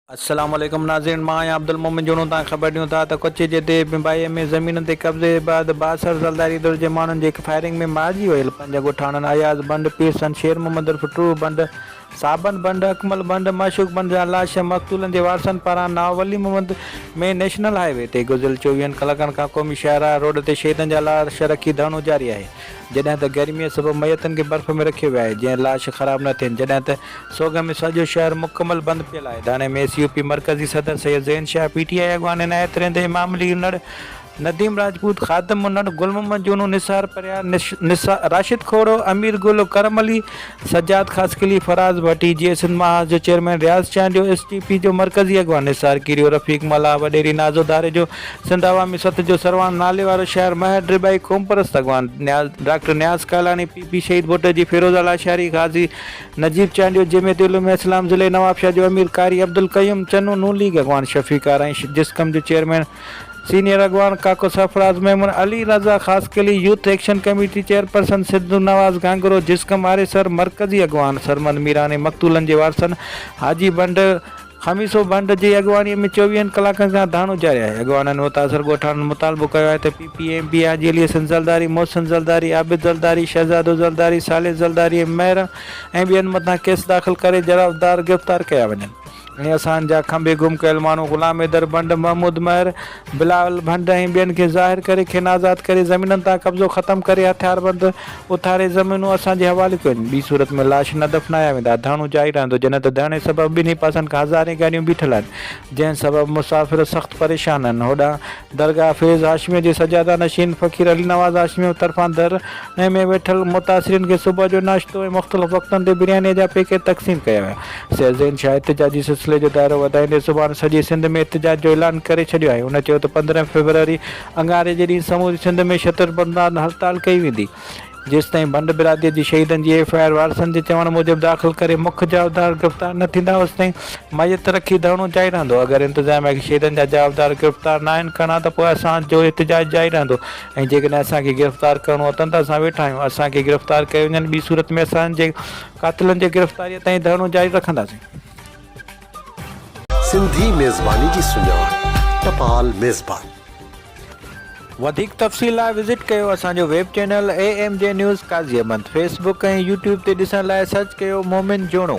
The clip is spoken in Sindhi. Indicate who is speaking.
Speaker 1: السلام عليڪم ناظرين مان آهيان عبدالمومن جوڻو تان خبر ڏيون ٿا ته ڪچي جي ديهه بنبائيء ۾ زمينن تي قبضي بعد بااثر زلداري ڌر جي ماڻهن جي فائرنگ ۾ مارجي ويل پنج ڳوٺاڻن اياز بنڊ، پيرسن، شير محمد عرف ٽوهه بنڊ، صابن بنڊ، اڪمل بنڊ، معشوق بنڊ جا لاش مقتولن جي وارثن پاران ناء Wali Muhammad ۾ national highway تي گذريل چوويهن ڪلاڪن کان قومي شاهراهه روڊ تي شهيدن جا لاش رکي ڌرڻو جاري آهي. جڏهن ته گرميء سبب ميتن کي برف ۾ رکيو ويو آهي جئين لاش خراب نه ٿين جڏهن ته سوڳ ۾ سڄو شهر مڪمل بند پيل آهي ڌرڻي ۾ ايس يو پي مرڪزي صدر Syed Zain Shah P T I اڳواڻ عنايت رند امام علي انڙ نديم راجپوت خادم انڙ گل محمد جونو نثار پرهيار راشد کوڙو امير گل و ڪرم علي سجاد خاصخيلي، فراز ڀٽي، جيئي سنڌ محاذ جو chairman Riaz Chandio, S T P جو مرڪزي اڳواڻ نثار ڪيريو، رفيق ملاح، وڏيري نازو ڌاري جو، سنڌ عوامي سٿ جو سرواڻ ناليوارو شاعر مهر ڊرٻائي، قومپرست اڳواڻ Niaz doctor Niaz Kalani, P P Shaheed Bhutto جي فيروزه لاشاري، غازي نجيب چانڊيو، جمعيت علوم اسلام ضلعي نوابشاهه جو امير قاري عبدالقيوم چنو، نون ليگ اڳواڻ شفيق آرائين، جسقم جو چيئرمين. سينيئر اڳواڻ ڪاڪو Sarfaraz Memon, Ali Raza Khaskheli, youth action committee chairperson Sindhu Nawaz Ghanghro, Jasqam Aresar, مرڪزي اڳواڻ سرمد ميراڻي، مقتولن جي وارثن حاجي ڀنڊ، خميسو ڀنڊ جي اڳواڻي ۾ چوويهن ڪلاڪن کان ڌرڻو جاري آهي. اڳواڻن متاثر ڳوٺاڻن مطالبو ڪيو آهي ته P P M P Haji Ali Hassan Zardari, Mohsin Zardari, Abid Zardari, Shahzado Zardari, صالح زرداري ۽ مهر ۽ ٻين مٿان ڪيس داخل ڪري جرابدار گرفتار ڪيا وڃن. ۽ اسان جا کنڀي گم ڪيل ماڻهو غلام حيدر ڀنڊ، محمود مهر، بلاول ڀنڊ ۽ ٻين کي ظاهر ڪري کين آزاد ڪري زمينن تان قبضو ختم ڪري هٿياربند اٿاري زمينون اسان جي حوالي ڪيون. ٻي صورت ۾ لاش نه دفنايا ويندا. ڌرڻو جاري رهندو جڏهن ته ڌرڻي سبب ٻنهي پاسن کان هزارين گاڏيون بيٺل آهن جنهن سبب مسافر سخت پريشان آهن. هوڏانهن درگاهه فيض هاشميه جي سجاده نشين فقير علي نواز هاشميه طرفان در ۽ ۾ ويٺل متاثرين کي صبح جو ناشتو ۽ مختلف وقتن تي بريانيء جا پيڪيٽ تقسيم ڪيا ويا. سيد زين شاهه احتجاجي سلسلي جو دائرو وڌائيندي سڀاڻ سڄي سنڌ ۾ احتجاج جو اعلان ڪري ڇڏيو آهي. هن چيو ته پندرهن فيبروري اڱاري جي ڏينهن سموري سنڌ ۾ شتر بندان هڙتال ڪئي ويندي. جيستائين ڀنڊ برادريء جي شهيدن جي ايف آء آر وارثن جي چوڻ موجب داخل ڪري مک جوابدار گرفتار نه ٿيندا اوستائين ميت رکي ڌرڻو جاري رهندو اگر انتظاميا کي شهيدن جا جوابدار گرفتار ناهن ڪرڻا ته پوء اسان جو احتجاج جاري رهندو ۽ جيڪڏهن اسان کي گرفتار ڪرڻو اٿن ته اسان ويٺا آهيون اسان کي گرفتار ڪيو وڃن ٻي صورت ۾ اسان جي قاتلن جي گرفتاريء تائين ڌرڻو جاري رکنداسين.
Speaker 2: سنڌي ميزباني جي سڃاڻ ٽپال ميزبان.
Speaker 1: وڌيڪ تفصيل لاء وزٽ ڪيو اسان جو web channel A M G news Qazi Ahmed Facebook ۽ YouTube تي ڏسڻ لاء سرچ ڪيو مومن جوڻو.